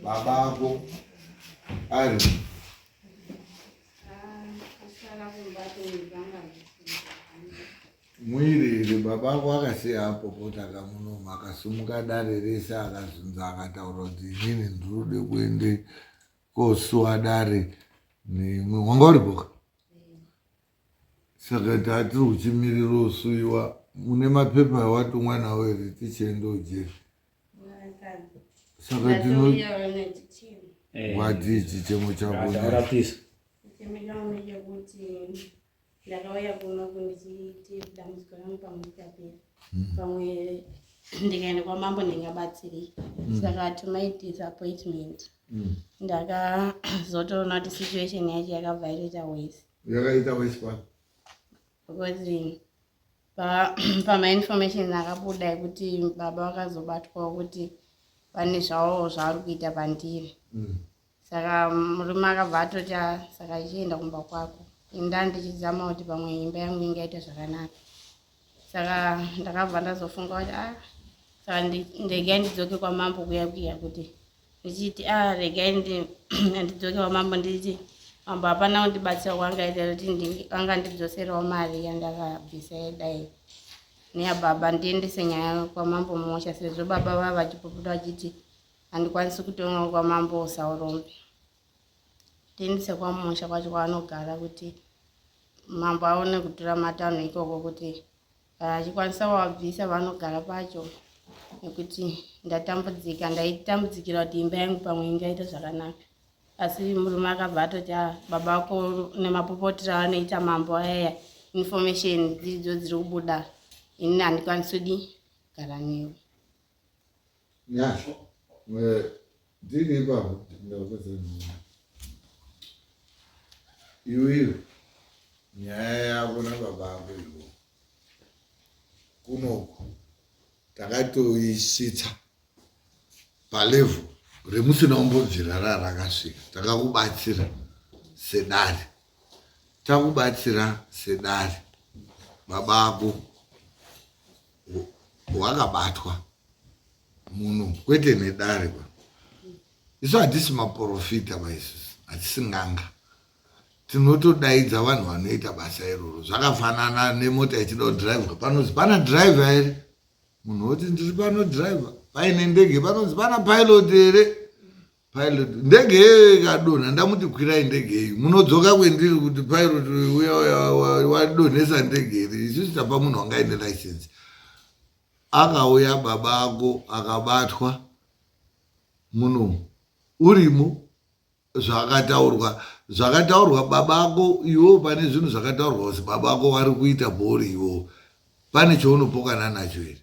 baba ako ari mwiri iri baba ako akasiya apo potaka munoma akasumuka dare rese akazunza akataura kuti inini ndirode kuende kosuwa dare neimwe wanga uripoka saka tatiri kuchimirira usuiwa mune mapepa awatumwa nawo here tichienda ujeri saka tino wati ichi chemo chako ndakauya kuno kundichiiti dambudziko rangu pamwe tapera hmm. pamwe ndikaenda kwamambo ndingabatsirei hmm. saka tumai disappointment hmm. ndakazotoona kuti situation yacho yakabva yaita wese yakaita wese pano because pamainformation akabuda ekuti baba vakazobatwawo kuti pane zvavo zvavari kuita pandiri mm. saka murume akabva atoti ah, saka ichienda kumba kwako inda ndichizama kuti pamwe imba yangu ingaita zvakanaka saka ndakabva ndazofunga kuti a ah, saka ndegai ndidzoke kwamambo kuya kuya kuti ndichiti a ah, regai ndidzoke kwamambo ndichiti mambo hapana kundibatsira kwangaita kuti anga ndidzoserawo mari yandakabvisa yedai neyababa ndiendese nyaya kwamambo musha sezvo baba vava vachipoputa vachiti handikwanisi kutonga kwamambo usaurombe then sekwamusha kwacho kwaanogara kuti mambo aone kutura matanho ikoko kuti kana eh, achikwanisa wabvisa vanogara pacho nekuti ndatambudzika ndaitambudikira kuti imba yangu pamwe ingaita zvakanaka asi murume akabva atoti a ah, baba vako nemapopotira vanoita mambo ayaya information dziridzo dziri kubuda ini handikwanisi kudi gara newe Nyasha. Eh, ndiri ipapo ndakupedza nyaya. Iwe iwe. Nyaya yako nababa ako ivo. Kunoku takatoisvitsa palevel remusina umbobvira rarakasvika takakubatsira sedare takubatsira sedare baba ako hwakabatwa munhu kwete nedare pa isu hatisi maprofita maisusu hatisi nganga tinotodaidza vanhu vanoita basa iroro zvakafanana nemota ichida kudrivha panonzi pana drivha here munhu woti ndiri panodrivha paine ndege panonzi pana pilot here pilot ndege yeyo ikadonha ndamuti kwirai ndege yeyu munodzoka kwendiri kuti pilot uya wadonhesa ndege iri isu sitapa munhu wanga aine license akauya baba ako akabatwa muno urimo zvakataurwa zvakataurwa baba ako iwo pane zvinhu zvakataurwa kuti baba ako wari kuita bhori iwo pane chaunopokana nacho here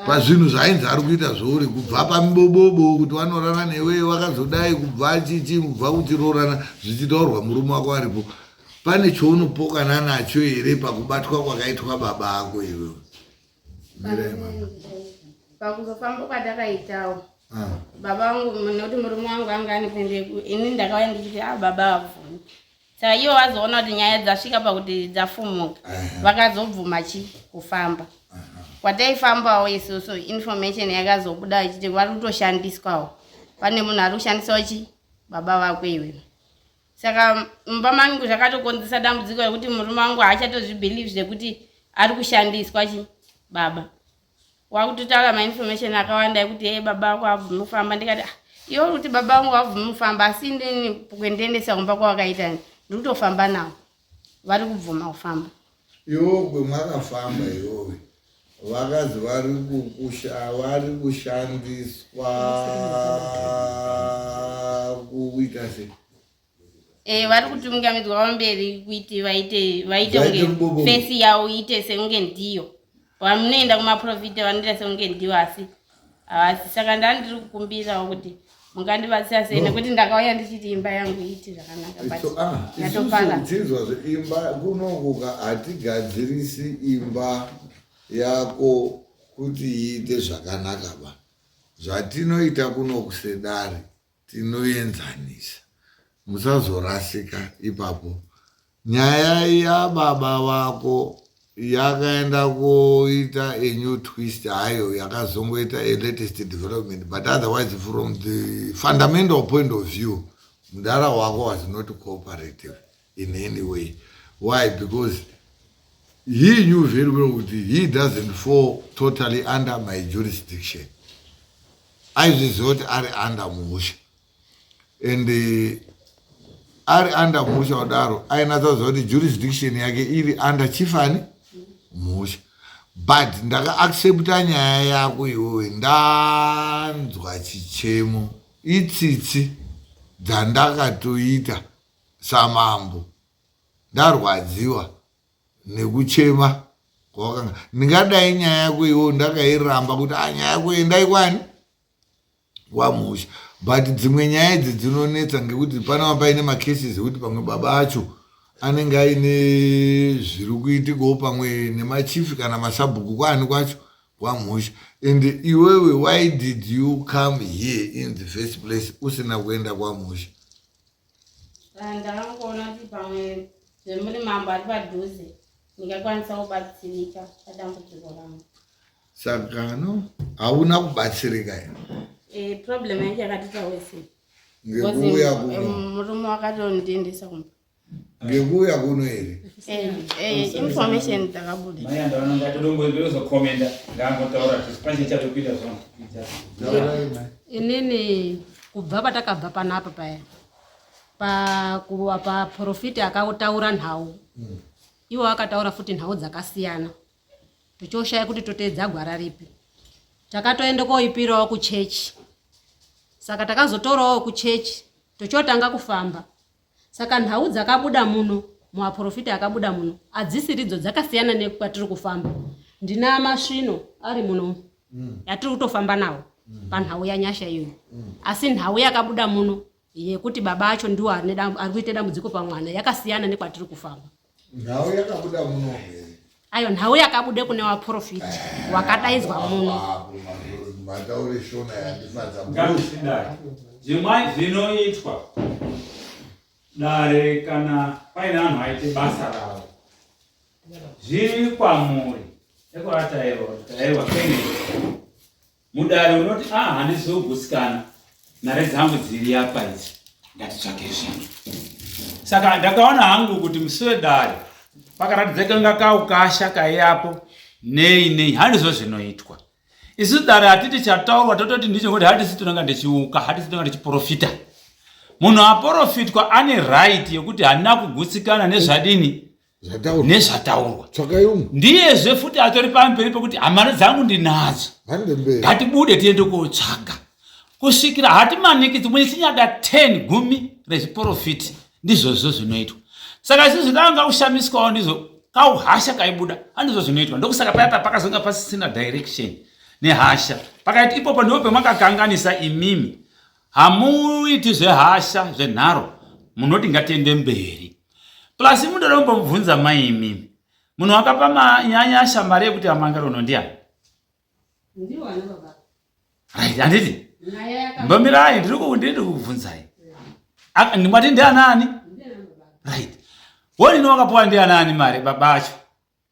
pazvinhu zvainzi ari kuita zvouri kubva pamibobobo kuti wanorana newe wakazodai kubva chichi kubva kuti roorana zvichitaurwa murume wako aripo pane chounopokana nacho here pakubatwa kwakaitwa baba ako iwe pakuzofamba kwatakaitawo ah. baba vangu nekuti murume wangu anga ane kuendeko ini ndakauya ndichiti a ah, baba avuni chaiyo vazoona kuti nyaya dzasvika pakuti dzafumuka vakazobvuma chi kufamba kwataifambawo isusu information yakazobuda ichiti vari kutoshandiswawo pane munhu ari kushandisawo chi baba vako iwe saka mumba mangu zvakatokonzesa dambudziko rekuti murume wangu haachatozvibelieve zvekuti ari kushandiswa chi baba wakutotaura mainformation akawanda ekuti ee baba vako havabvume kufamba ndikati ah, iwe uri kuti baba vangu havabvume kufamba asi inini kuendiendesa kumba kwavakaita ndiri kutofamba navo vari kubvuma kufamba iwo kwemakafamba iwowe vakazi vari vari kushandiswa kuita se Eh, vari kutungamidzwa pamberi kuti vaite vaite kunge fesi yavo iite sekunge ndiyo vamunoenda kumaprofita vanoita sekunge ndiyo asi havasi saka ndaa ndiri kukumbirawo kuti mungandibatsira sei nekuti ndakauya ndichiti imba yangu iiti zvakanakayatoparadzinzwa ah, zveimba kunokuka hatigadzirisi imba yako kuti iite zvakanaka ba zvatinoita kunokusedari tinoenzanisa musazorasika ipapo nyaya yababa vako yakaenda koita a new twist hayo yakazongoita a latest development but otherwise from the fundamental point of view mudara wako was not cooperative in any way why because he knew very well kuti he doesn't fall totally under my jurisdiction aizviziva kuti ari under musha and uh, ari under musha kudaro ainatsaziva kuti jurisdiction yake iri under chifani musha but ndakaaccepta nyaya yako iwowe ndanzwa chichemo itsitsi dzandakatoita samambo ndarwadziwa nekuchema kwawakanga ndingadai nyaya yako iwo ndakairamba kuti ah, nyaya yako endai kwani wamusha but dzimwe nyaya idzi dzinonetsa ngekuti panava paine macases ekuti pamwe baba acho anenge aine zviri kuitikawo pamwe nemachifi kana masabhuku kwaani kwacho kwamusha and iwewe why did you come here in the first place usina kuenda kwamusha ndangoona kuti pamwe zvemuri mambo ari padhuze ndingakwanisa kubatsirika padambudziko rangu saka no hauna kubatsirika here eh, problem yange yakatita wese ngekuuya kuno eh, murume wakatondiendesa kumba ngekuuya kuno here eh, eh, information dzakabuda maya ndaona ngati dongozokomenda ngangotaura kuti panje chatopinda zvona inini kubva patakabva panapa paya paprofiti pa, akataura nhau mm. ivo akataura futi nhau dzakasiyana tichioshaya kuti toteedza gwara ripi takatoenda koipirawo kuchechi saka takazotorawo kuchechi tochotanga kufamba saka nhau dzakabuda muno muaprofita akabuda muno adzisiridzo dzakasiyana nekwatiri kufamba ndina masvino ari muno mm. yatiri kutofamba nawo mm. panhau yanyasha iyoyo mm. asi nhau yakabuda muno yekuti baba acho ndiwo ari kuita dambudziko pamwana yakasiyana nekwatiri kufamba nhau yakabuda muno ayo nhau yakabuda kune waprofit eh, wakadaidzwa muno mataure shona yandifadza zvimwai zvinoitwa dare kana paine vanhu vaite basa ravo zviri kwamuri ekuratairwa kutairwa penei Mudare unoti ah handisi kugutsikana mari dzangu dziri apa idzi ndatitsvake zvinhu. Saka ndakaona hangu kuti musi wedare pakaratidza kanga kaukasha kaiyapo nei nei handizvo zvinoitwa. Isu dare hatiti chataurwa tototi ndicho kuti hatisi tinonga ndichiuka hatisi tinonga ndichiprofita. Munhu aporofitwa ane right yekuti handina kugutsikana nezvadini zvataurwa nezvataurwa tsvakai umwe ndiyezve futi atori pamberi pekuti hamano dzangu ndinadzo hande mberi ngatibude tiende kotsvaga kusvikira hati manikidzi mune chinyada 10 gumi rezviporofiti ndizvozvo zvinoitwa saka izvi zvinanga kushamiswawo ndizvo kauhasha kaibuda andizvo zvinoitwa ndokusaka paya papakazonga pasisina direction nehasha pakaiti ipopo ndipo pemakakanganisa imimi hamuiti zvehasha zvenharo munoti ngatiende mberi Plus munoda kumbomubvunza mai imimi. Munhu wakapa manyanyasha mari yekuti amangaro uno ndiani? Ndiwo ana baba. Right, handiti? Mbomirai ndiri kundiri kukubvunzai. Ndimati ndianani? Right. Wonini wakapuwa ndianani mari baba acho?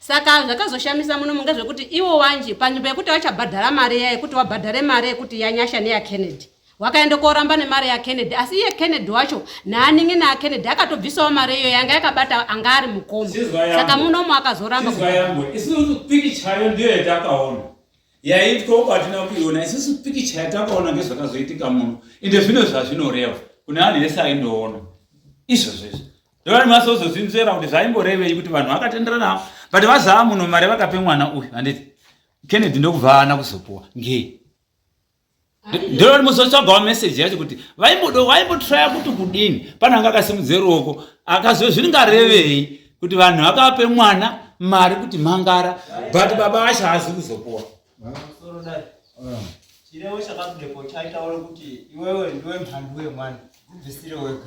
saka zvakazoshamisa muno munge zvekuti iwo wanje panzvimbo yekuti vachabhadhara mari iya yekuti wabhadhare mari yekuti yanyasha neyakennedy wakaenda koramba nemari yakennedy asi iye kennedy wacho naaningi naakennedy akatobvisawo mari iyo yanga yakabata anga ari mukoma saka munomo akazoramba isusu pikichayo ndiyo yatakaona yaitwa uko hatina kuiona isusu pikicha yatakaona ngezvakazoitika muno ende zvino zvazvinoreva kune anhu ese aindoona izvozvo izvo Ndovani masozozvinzvera kuti zvaimborevei kuti vanhu vakatenderana but vazaa muno mari vakape mwana uyu handiti Kennedy ndokubva ana kuzopuwa ngei ndovani muzotsvagawo message yacho kuti vaimbodo vaimbotraya kuti kudini pana anga akasimudze ruoko akaziva zvingarevei kuti vanhu vakape mwana mari kuti mangara but baba vacho haazi kuzopuwa chirevo chakabudepo chaitaura kuti iwewe ndiwe mhandu wemwana kubvisire wega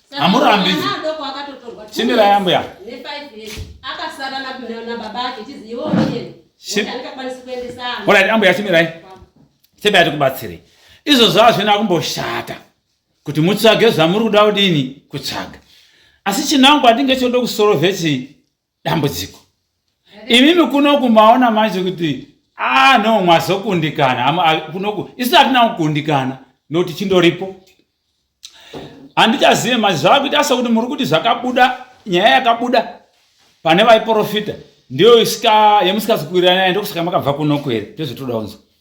Hamurambi. Chimira yambuya. Alright, ambuya chimirai. Sebaya tikubatsirei. Izvo zvava zvina kumboshata kuti mutsvage zvamuri kuda kudini kutsvaga. Asi chinangwa ndinge choda kusorovhe chi dambudziko imimi kunoku maona manje kuti ah no mwazokundikana kunoku isu hatina kukundikana nokuti chindoripo handichazive manje zvavakuita sekuti muri kuti zvakabuda nyaya yakabuda pane vaiprofita ndiyo yemusikazi kuwirirana yayo ndokusaka makabva kunoku here ndozvotoda kunzwa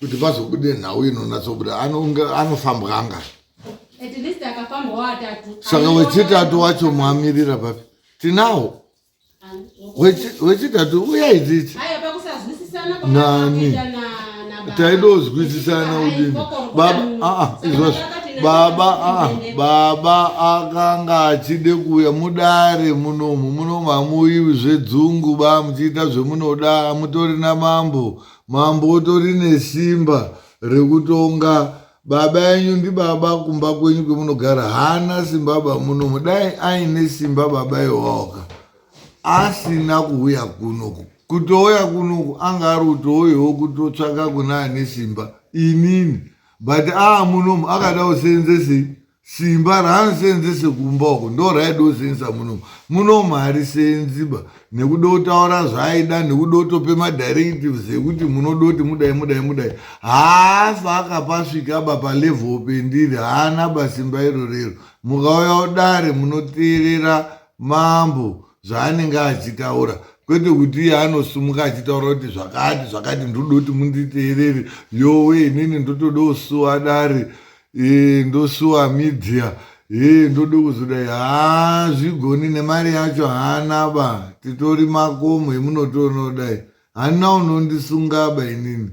kuti pazobude nhau inonatsobuda anofambwanga saka wechitatu wacho mwamirira papi tinawo wechitatu uya idzidzi nani taidozwisisana udini baba aa ah, ah, izvozvo baba aa ah, baba akanga achide kuuya mudare munomu munomu hamuiwi zvedzungu ba muchiita zvemunoda hamutori namambo Mambo utori nesimba rekutonga baba enyu ndibaba kumba kwenyu kwemunogara haana simbaba munomu dai aine simba baba iwaoka asina kuuya kunoku kutouya kunoku anga ari utouyawo kutotsvaka kune ane simba inini but aa munomu akada useenzesei simba raanoseenzese kumba uko ndo raida kuseenzesa munomu munomu harisenziba nekuda kutaura zvaaida nekuda kutope madirectives ekuti munoda kuti mudai mudai mudai haafa akapasvika ba palevel pendiri haana basimba iro rero mukauya udare munoteerera mambo zvaanenge achitaura kwete kuti iye anosumuka achitaura kuti zvakati zvakati ndoda kuti munditeerere yowe inini ndotoda kusuwa dare ee ndosuwa media ee ndode kuzodai haa zvigoni nemari yacho haana ba titori makomo emunotoonodai hana unondisunga ba inini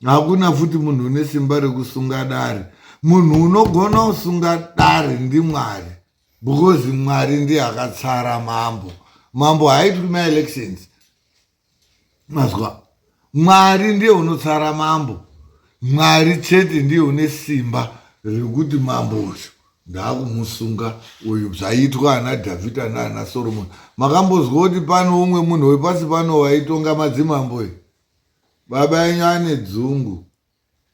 hakuna futi munhu une simba rekusunga dare munhu unogona kusunga dare ndimwari because mwari ndiye akatsara mambo mambo haitwi maelections mazwa mwari ndiye unotsara mambo mwari chete ndiye une simba rekuti mambo uyu ndaakumusunga uyu zvaiitwa ana dhavhidha naana soromoni makambozwa kuti pano umwe munhu wepasi pano waitonga madzimambo e baba enyu ane dzungu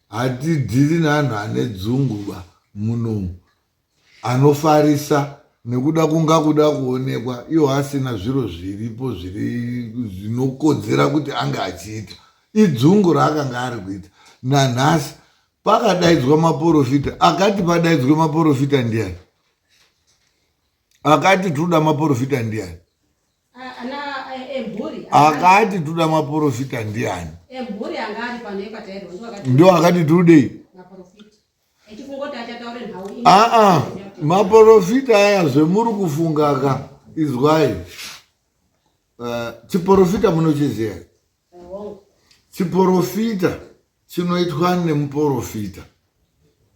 Hatidhiri neanhu ane dzungu ba munomu anofarisa nekuda kunga kuda kuonekwa iwo asina zviro zviripo zviri zvinokodzera kuti ange achiita idzungu raakanga ari kuita nanhasi pakadaidzwa maporofita akati padaidzwe maporofita ndiani akati toda maporofita ndiani akati tuda maporofita ndiani ndo akati tudei aa maporofita aya zvemuri kufungaka izwai eh, chiporofita munochiziva chiporofita chinoitwa nemuporofita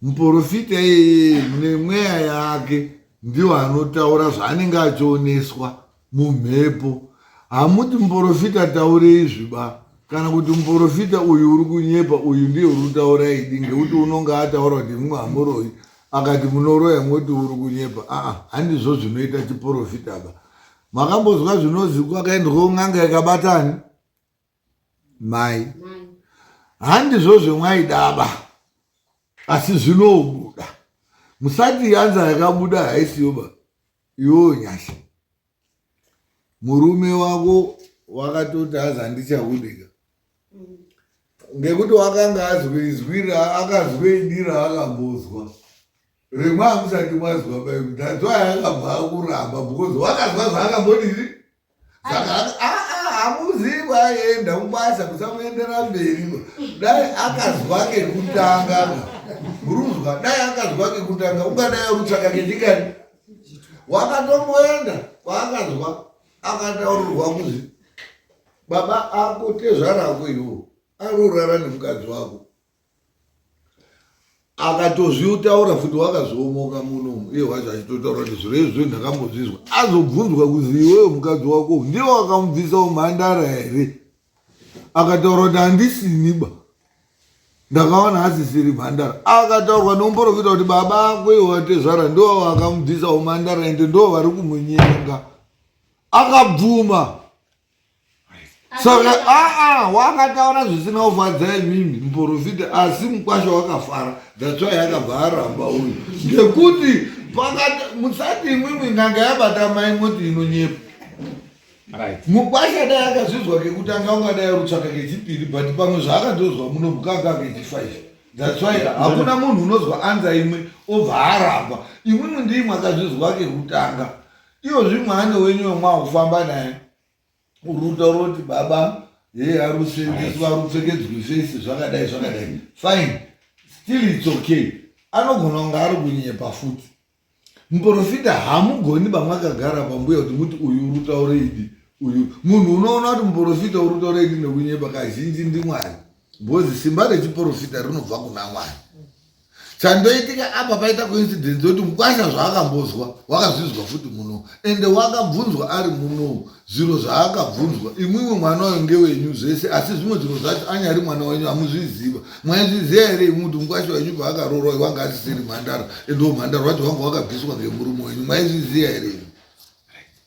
muporofita iyeye nemweya yake ndiwo anotaura zvaanenge achioneswa mumhepo hamuti muporofita taure izvi ba kana kuti muporofita uyu uri kunyepa uyu ndiye uri kutaura idi ngekuti unonge ataura kuti mumwe hamuroyi akati munoroya moti uri kunyepa aa handizvo zvinoita chiporofita ba makambozwa zvinozi kwakaendwawo n'anga yakabatani mai handizvo zvemwaidaba asi zvinobuda musati yanza yakabuda haisiyoba iwewo nyasha murume wako wakatoti azi handichahudika ngekuti wakanga azwezwira akazwedira akambozwa rimwe amusati mazwa baibu that's why akabva akuramba because wakazwa zvaakambodii hamuziva aenda mubasa musamuendera mberi dai akazwa kekutanga muruzwa dai akazwa kekutanga ungadai arutsvaka kechikani wakatomboenda kwaakazwa akataurirwa kuzvi baba ako tezvara ako iwo arorara nemukadzi wako akatozvitaura futi wakazoomoka muno iye wacho achitotaura kuti zviro izvi ndakambozvizwa azobvunzwa kuzi iweyo mukadzi wako ndiye wakamubvisa umhandara here akataura kuti handisiniba ndakaona asisiri mhandara akataurwa nomporofita kuti baba ako iwe watezvara ndo wakamubvisa umhandara ende ndo vari kumunyenga akabvuma saka aa wakataura zvisina kufadza imimi muporofita asi mukwasha wakafara dhatswa yakabva aramba uyu ngekuti musati imwimwi n'anga yabata mai moti inonyepa mukwasha dai akazvinzwa kekutanga ungadai rutsvaka kechipiri but pamwe zvaakatozwa muno mukanga kechifaive that's why hakuna munhu unozwa anza imwe obva aramba imwimwe ndiimwe akazvizwa kekutanga iyo zvimwana wenyu wemwakufamba naye uruta uroti baba hee ari kusenzeswa ari kupfekedzwa face zvakadai zvakadai fine still its okay anogona kunge ari kunyepa futi muprofita hamugoni bamwakagara pambuya kuti muti uyu urutaure idi uyu munhu unoona kuti muprofita urutaure idi nekunyepa kazhinji ndimwari bhozi simba rechiprofita rinobva kuna mwari chandoitika apa paita coincidence yekuti mukwasha zvaakambozwa wakazvinzwa futi muno ende wakabvunzwa ari muno zviro zvaakabvunzwa imwimwe mwana wayo ngewenyu zvese asi zvimwe zviro zvacho anyari mwana wenyu hamuzviziva mwaizviziva here imwi kuti mukwasha wenyu paakaroorwa wanga asisiri mhandara ende umhandara wacho wanga wakabviswa ngemurume wenyu mwaizviziva here imwi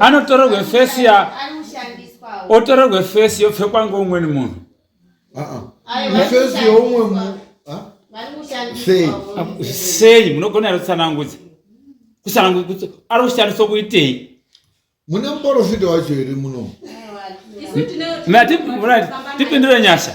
anotorerwe fesi ya otorerwe fesi yopfekwa ngeumweni munhu fesi youmwe munhu sei munogona here kutsanangudza kutsanangudza ari kushandiswa kuitei mune muporofita wacho here muno tipindire nyasha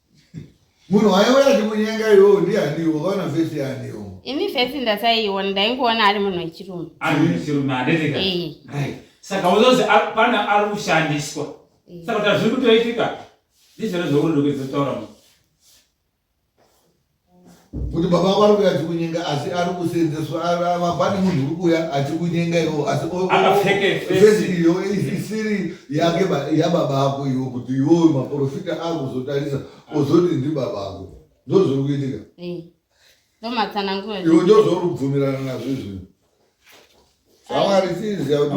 Munhu waiwe achimunyenga iwowo ndianiwo vaona vhesi yaaniwo. Ini vhesi ndasaiona ndaingoona ari munhu wechirume. Ari munhu wechirume handiteka. Eh. Right. Saka uzozi pana ari kushandiswa. Eh. Saka tazviri kutoitika. Ndizvona zvokuti ndokuzotoro. kuti baba vako ari kuuya achikunyenga asi ari kuseenzeswa vapane munhu uri kuuya achikunyenga iwo asifesi iyo isiri yake yababa ako iwo kuti iwo maprofita akuzotarisa ozoti ndibaba ako ndozviri kuitika iwo ndozvauri kubvumirana nazvo izvino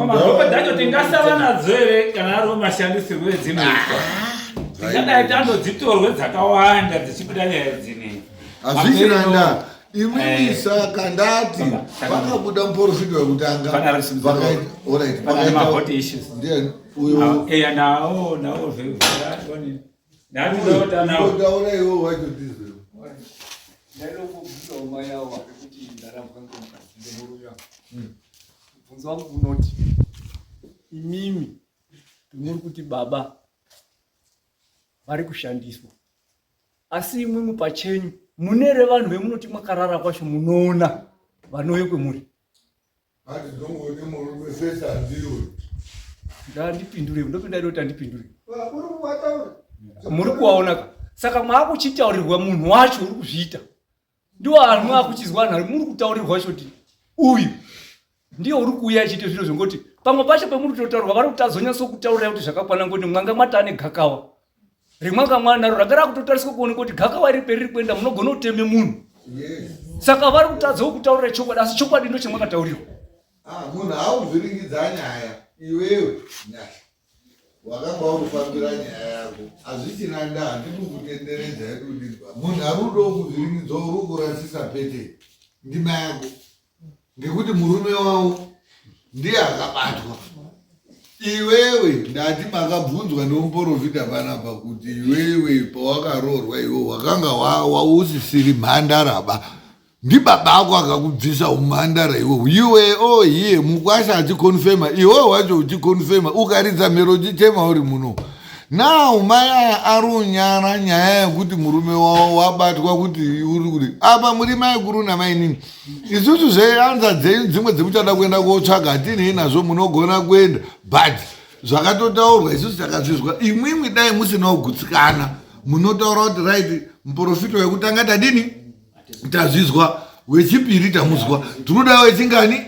Mabhokwe dzacho tingasava nadzo here kana ari mashandisirwo edzinoitwa tingadai tandodzitorwe dzakawanda dzichibuda nyaya dzine hazvichiranda imimi eh. saka ndati vakabuda muporofita wekutanga vakaita uyo Ndakudaura iwe wacho ndizvo. Ndalokubvunza umai awo wari kuti ndarambwa ngomukadzi ndemurume wangu. Mubvunzo wangu unoti imimi muri kuti baba vari kushandiswa asi imwimwi pachenyu mune revanhu vemunoti mwakarara kwacho munoona vanouye kwemuri Ati ndongode murume vese andiri uyu. Ndandipindure, ndopinda ndoti andipindure. Uri kuwataura. Muri kuwaona ka. Saka mwakuchitaurirwa munhu wacho uri kuzviita. Ndiwo anhu akuchizwa anhu muri kutaurirwa shoti. Uyu ndiye uri kuuya achiita zviro zvongoti pamwe pacho pemuri kutotaurwa vari kutazonyatso kutaurira kuti zvakakwana ngoti mwanga mwatane gakawa rimwe kamwana naro ranga rakutotariswa kuona kuti gakava iri periri kuenda munogona kuteme munhu saka vari kutadzawo kutaurira chokwadi asi chokwadi ndo chamwakataurirwa ah, munhu auzviringidza nyaya iwewe nyaya wakanga wakufambira nyaya yako hazvichina nda handikukutenderedza yekudidwa munhu ari udo kuzviringidzo uri kurasisa pete ndima yako ngekuti murume wavo ndiye akabatwa iwewe ndati makabvunzwa nemuporofita panapa kuti iwewe pawakaroorwa iwe wakanga wausisiri mhandaraba ndibaba ako akakubvisa umhandara iwe iwe o oh, hiye mukwasha achikonfema iwe wacho uchikonfema ukaridza mhero chichema uri muno now mai aya ari unyara nyaya yekuti murume wavo wabatwa kuti uri kuti apa muri mai kuru namainini isusu zveyanza dzenyu dzimwe dzemuchada kuenda kotsvaga hatinei nazvo munogona kuenda but zvakatotaurwa isusu takazvizwa imwimwi dai musinawo gutsikana munotaura kuti right muprofita wekutanga tadini tazvizwa wechipiri tamuzwa tinodawo wechingani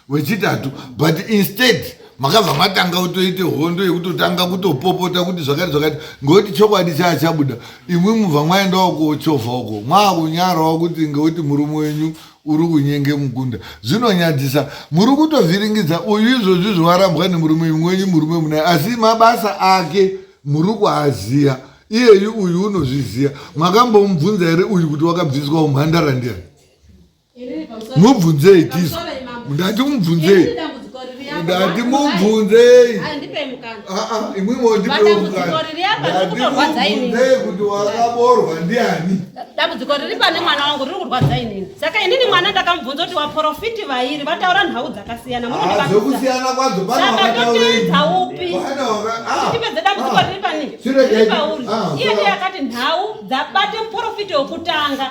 wechitatu but instead makabva matanga kutoite hondo yekutotanga kutopopota kuti zvakati zvakati ngokuti chokwadi chaya chabuda imwi mubva mwaendawo kochovha uko mwakunyarawo kuti ngokuti murume wenyu uri kunyenge mukunda zvinonyadzisa muri kutovhiringidza uyu izvozvi zvovarambwa nemurume imwe wenyu murume munaye asi mabasa ake muri kuaziya iyeyu uyu unozviziya makambomubvunza here uyu kuti wakabviswa umhandara ndiyani mubvunzei tizo ndati mubvunzei ndati mubvunzei ah, ah, imwimwo ndipewo mukana ndimubvunzei kuti wakaborwa ndiani dambudziko riri pane mwana wangu riri kurwadza inini saka inini mwana ndakamubvunza kuti waprofiti vairi vataura nhau dzakasiyana ah, zvekusiyana kwadzo panaaaupi tipedze dambudziko riri panei pauri iye ndiye akati nhau dzabate muprofiti wekutanga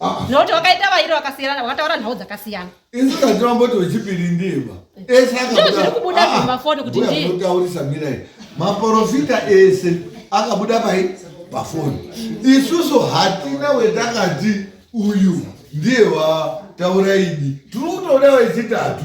Ah. nokuti wakaita vairi vakasiyana wakataura nhau dzakasiyana isu katiramboti wechipiri ndima ese zviri kubuda zvemafoni kuti nditaurisa mirai maporofita ese akabuda pai pafoni isusu hatina wetakati uyu ndiye wataura idi tiri kutoda wechitatu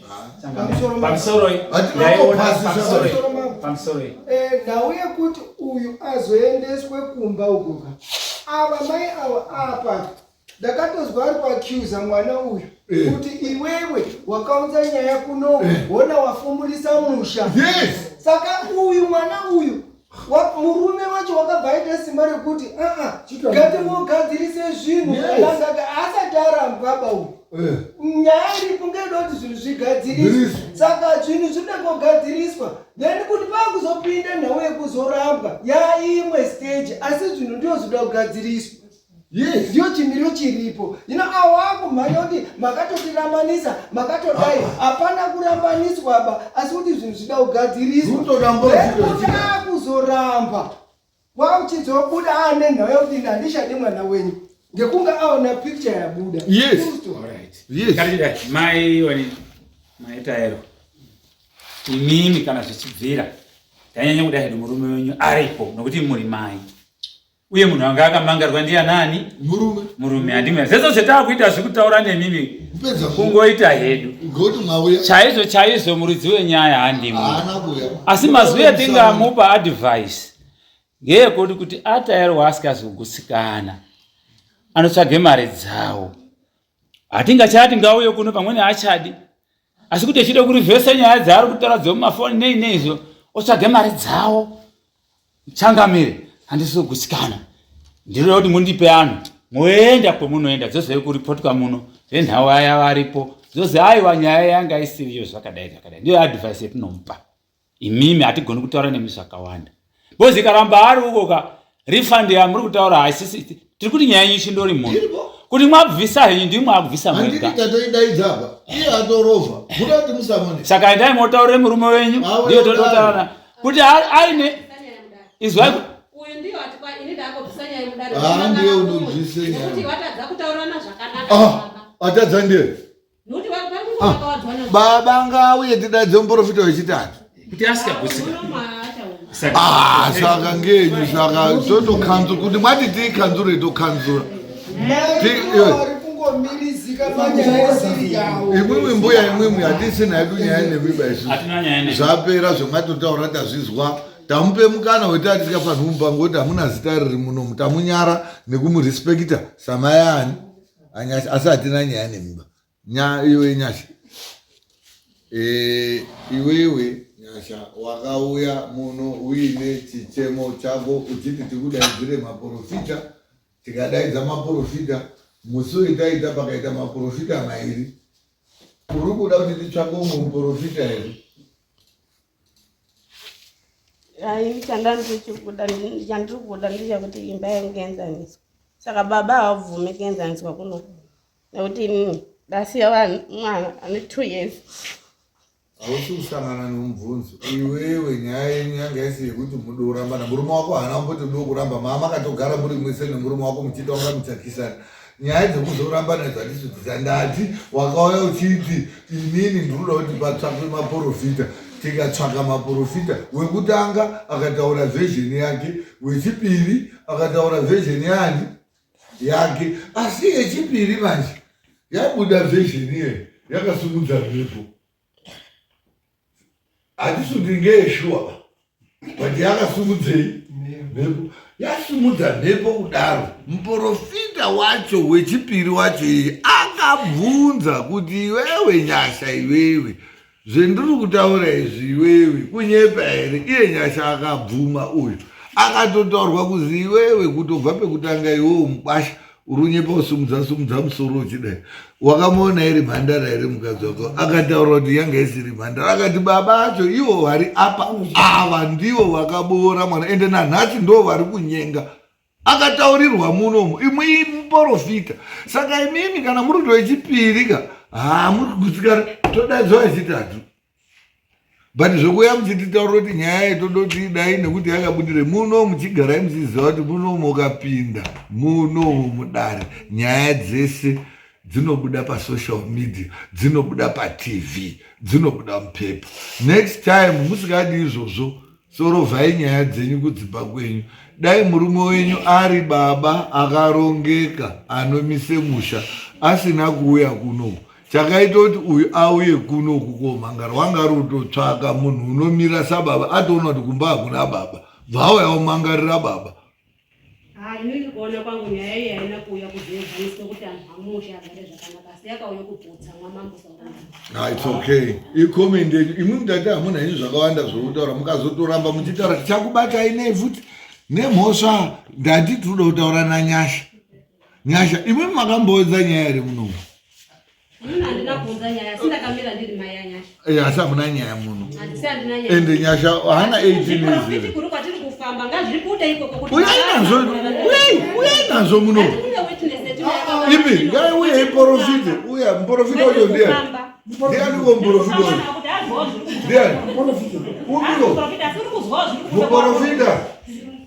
ndau yekuti uyu azoendeswe kumba ugoka ava mai avo apa ndakatozwa ari kuacuza mwana uyu eh. kuti iwewe wakaunza nyaya kuno eh. wona wafumurisa musha saka uyu mwana uyu murume wacho wakabva aita simba rekuti aa ngatingogadzirise zvinhu akangaga asati arambaba uyu eh. nyaya iri kunge ida kuti zvinhu zvigadziriswe saka zvinhu zvinoda kugadziriswa then kuti pakuzopinda nhau yekuzorambwa yaimwe stage asi zvinhu ndiyo zvinoda kugadziriswa Yes. Ndiyo chimiro chiripo. You know, awaku mayodi makatotirambanisa makatodai ah. hapana kurambaniswa ba asi kuti zvinhu zvida kugadziriswa. Kutoda kuzoramba. Wauchizobuda ane nhau yekuti ndandishade mwana wenyu. Ngekunga aona picture yabuda. Yes. All right. Yes. Kandida mai wani mai taero. Imimi kana zvichibvira. Tanyanya kuda hedu murume wenyu aripo nokuti muri mai. uye munhu anga akamangarwa ndiya nani murume murume andimwe zvezo zvetakuita zvikutaura nemimi kungoita hedu chaizvo chaizvo muridzi wenyaya handimwe asi mazwi atingamupa advice ngeekuti kuti ataerwa asikazi kugutsikana anotsvage mari dzawo hatingachati ngauye kuno pamwene haachadi asi kuti echida kurivhesa nyaya dzaari kutaura dzemumafoni nei nei izvo otsvage mari dzawo changamire handisi kugutsikana ndinoda kuti mundipe anhu moenda kwemunoenda dzozove kuripotwa muno venhau aya varipo dzozi aiwa nyaya yanga isiriyo zvakadai zvakadai ndiyo advice yatinomupa imimi hatigoni kutaura nemi zvakawanda bozi ikaramba ari uko ka refund yamuri kutaura haisisi tiri kuti nyaya yenyu chindori munhu kuti mwabvisa henyu ndii mwakubvisa mwegatoidaidzapa iye atorova kuda kuti musamone saka endai motaurire murume wenyu ndiyo todotaurana kuti aine izwai ndiye unobvisa nyaya atadza ndiye Ah, baba ngauye tidaidze muprofita wechitatu kuti asika kusika ah, saka ngenyu saka totokanzura kuti mwati tiikanzure tokanzura imwimwi mbuya imwimwi hatisina yedu nyaya nemimba isu zvapera zvemwatotaura tazvizwa tamupe mukana wekuti atisikafanhi mupango kuti hamuna zita riri muno mutamunyara nekumurespekita samayaani anyasha asi hatina nyaya nemimba nyaya iwe nyasha eh, iwewe nyasha wakauya muno uine chichemo chako uchiti tikudaidzire maprofita tikadaidza maprofita musi wetaita pakaita maprofita mairi uri kuda kuti titsvake umwe muprofita here chandandirichikuda chandiri kuda ndechakuti imba yangu kuenzaniswa saka baba havabvume kuenzaniswa kuno nekuti inini ndasiya vanhu mwana ane two years hausi kusangana nomubvunzo iwewe nyaya yenyu yanga isi yekuti mudo kurambana murume wako haana kumboti do kuramba maa makatogara muri mwese nemurume wako muchiita unga muchakisana nyaya dzekuzorambana dzatichidzisa ndati wakauya uchiti inini ndinoda kuti patsvakwe maporofita tikatsvaka maporofita wekutanga akataura vhezheni yake wechipiri akataura vhezheni yani yake asi yechipiri manje yabuda vhezheni iye yakasimudza mhepo handisi kuti ngeeshuwa ba but yakasumudzei mhepo yasumudza mhepo kudaro muporofita wacho wechipiri wacho iye akabvunza kuti iwewe nyasha iwewe zvendiri kutaura izvi iwewe kunyepa here iye nyasha akabvuma uyu akatotaurwa kuzi iwewe kutobva pekutanga iwewe mukwasha urunyepa usumudza sumudza musoro uchidai wakamuona iri mhandara here mukadzi wako akataura kuti yanga isiri mhandara akati baba acho ivo vari apa ava ndivo vakaboora mwana ende nanhasi ndo vari kunyenga akataurirwa munomo imwe imuporofita saka imimi kana muri kuto yechipiri ka haa muri kugutsikana todaidzwa yechitatu but zvekuuya muchititaura kuti nyaya yetoda kuti idai nekuti yakabudire muno muchigarai muchiziva kuti muno mukapinda muno mudare nyaya dzese dzinobuda pasocial media dzinobuda patv dzinobuda mupepa next time musikadi izvozvo Sorovai nyaya dzenyu kudzimba kwenyu. Dai murume wenyu ari baba akarongeka anomise musha asina kuuya kunoku. Chakaita kuti uyu auye kunoku komhanga rwanga rutotsvaka munhu unomira sababa atoona kuti kumba hakuna baba. Bvawo yaomangarira baba. Haa ini ndikuona kwangu nyaya iyi haina kuuya kuzoezaniswa kuti anhu amusha agare zvakanaka asi yakauya kuputsa mwamambo saurana Ah, it's okay. Ikomende imwe mudati hamuna henyu zvakawanda zvokutaura mukazotoramba muchitaura tichakubatai nei futi nemhosva ndati tinoda kutaura nanyasha nyasha imwe makamboedza nyaya iri munomu asi hamuna nyaya muno ende nyasha haana 18uyai nazvo muno ipi ngai uyai porofite uya muporofita wacho ndiani ndiani uko muporofita wacho ndiani umiro muporofita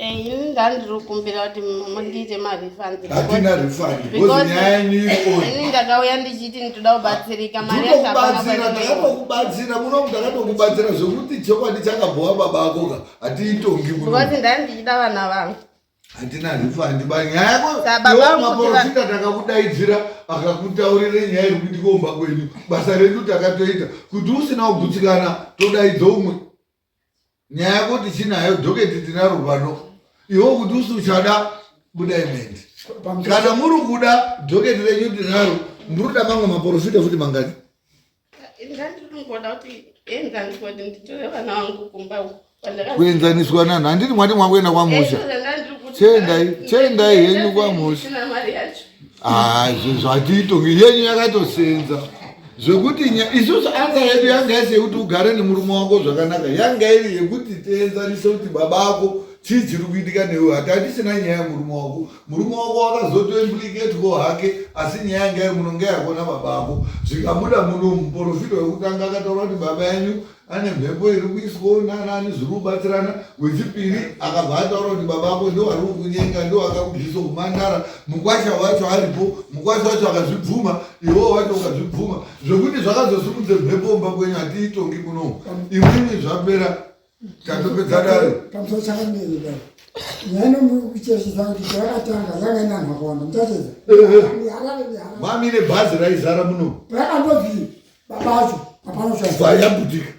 Eh, ini ndandirikumbira kuti mundiite marefundshatina refund because nyaya yenyu irioni ndakauya ndichiti nditoda kubatsirika mariakubatsira munomu ndakatokubatsira zvekuti chokwadi chakabhowa baba ako ka hatiitongi because ndani ndichida vana vangu hatina refund ba nyaya yakomaporofita takakudaidzira akakutaurira nyaya iri kuitika umba kwenyu basa redu takatoita kuti usina kugutsikana todaidza umwe nyaya yako tichinayo doketi tinaro pano iwo kuti usi uchada buda imendi kana muri kuda doketi renyu tinaro ndinoda mamwe maporofita futi mangani kuenzaniswa nanhu handiti mwati mwakuenda kwamusha chendai chendai henyu kwamusha Ah, izvozvo hatiitongi yenyu yakatosenza zvekuti isusu anga yedu yanga yese yekuti ugare nemurume wako zvakanaka yanga iri yekuti tienzarise kuti baba ako chii chiri kuitika newe hati hatisina nyaya yemurume wako murume wako wakazotoimpliketwo hake asi nyaya yanga iri munonge yakona baba ako zvikabuda muno muporofita wekutanga akataura kuti baba yenyu ane mhepo iri kuiswawo nanani zviri kubatsirana wechipiri akabva ataura kuti baba ako ndowari kukunyenga ndowakakubvisa kumandara mukwasha wacho aripo mukwasha wacho akazvibvuma iwewo wacho ukazvibvuma zvekuti zvakazosimudze mhepo kumba kwenyu hatiitongi kunomu imwimwi zvapera tatopedza dare mami nebhazi raizara muno rakandovii baba vacho hapana zvayabudika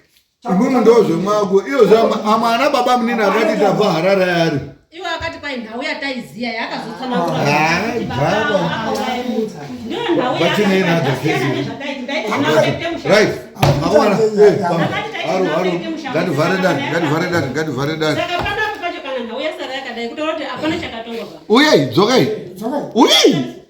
imwimwe ndo zvemwako iyo zvamwana baba munini akati tabva harare yari iwe akati kwai nhau yataiziya yakazotsanauyei dzokai uyei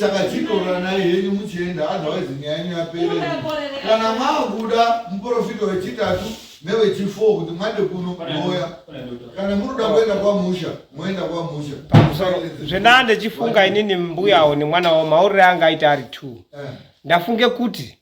saka chitoranai henyu muchienda otherwise nyaya yenyu yapere kana makuda muprofita wechitatu nevechifour kuti mande kuno moya kana munoda kuenda kwamusha moenda kwamusha zvendanga ndichifunga inini mbuyawo nemwana wao maurire anga aita ari two eh. ndafunge kuti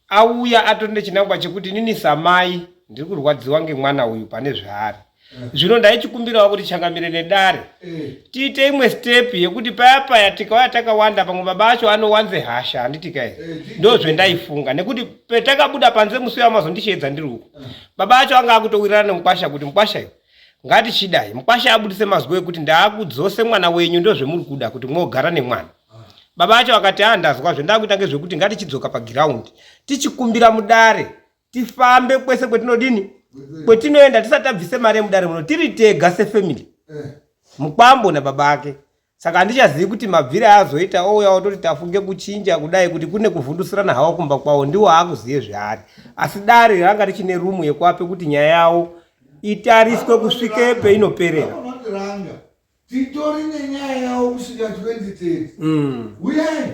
auya atori nechinangwa chekuti inini samai ndiri kurwadziwa ngemwana uyu pane zvaari eh. zvino ndaichikumbirawo kuti changamire nedare eh. tiite imwe step yekuti paya paya tikauya takawanda pamwe baba acho anowanze hasha handiti kai eh, ndo zvendaifunga nekuti petakabuda panze musi uyo amazondisheedza ndiri uko baba acho anga akutowirirana nemukwasha kuti mukwasha iyo ngatichidai mukwasha abudise mazwi ekuti ndaakudzose mwana wenyu ndozvemuri kuda kuti mwogara nemwana baba acho akati a ah, ndazwa zvendakuita ngezvekuti ngatichidzoka pagiraundi tichikumbira mudare tifambe kwese kwetinodini kwetinoenda tisati tabvise mari yemudare muno tiri tega sefamily eh. mukwambo nababa ake Saka handichazivi kuti mabvire aazoita ouya ototi tafunge kuchinja kudai kuti kune kuvhundusirana hawo kumba kwawo ndiwo haakuzive zvaari. Asi dare ranga richine rumu yekuape kuti nyaya yawo itariswe kusvike peinoperera. Titori nenyaya yawo kusvika 2030. Mm. Huyai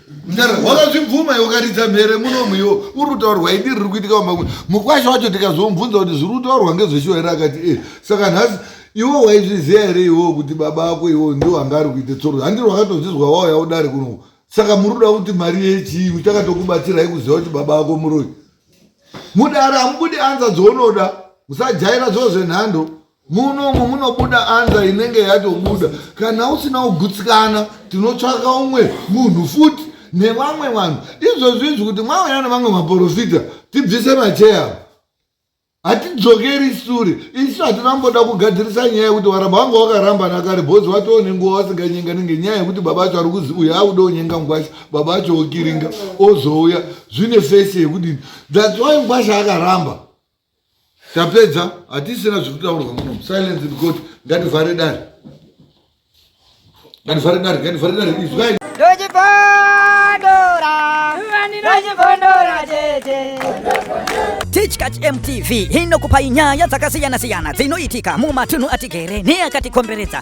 mdara wakazvibvuma iwe ukaridza mhere munomu iwo uri kutaurwa idi riri kuitika pamwe mukwasha wacho tikazomubvunza kuti zviri kutaurwa ngezveshuwa here akati e saka nhasi iwo waizviziva here iwo kuti baba ako iwo ndiwo anga ari kuita tsoro handiri wakatozvizwa wauya udare kuno saka muri kuda kuti mari yechii uchakatokubatsirai kuziva kuti baba ako muroi mudara hamubudi anza dzounoda musajaira zvoo zvenhando munomu munobuda anza inenge yatobuda kana usina kugutsikana tinotsvaka umwe munhu futi nevamwe vanhu izvozvi izvi kuti mwauya nevamwe maporofita tibvise macheya hatidzokeri sure isu hatina mboda kugadzirisa nyaya yekuti varamba vanga vakaramba nakare bhozi vatoo nenguva vasinganyenga nenge nyaya yekuti baba acho ari kuzi uyo auda onyenga ngwasha baba acho okiringa ozouya zvine fesi yekudini that's why ngwasha akaramba tapedza hatisina zvekutaurwa muno silence in court ngativhare dare ngativhare dare ngativhare dare izwai Tichkach MTV inokupai nyaya dzakasiyana-siyana dzinoitika mumatunhu atigere neakatikomberedza.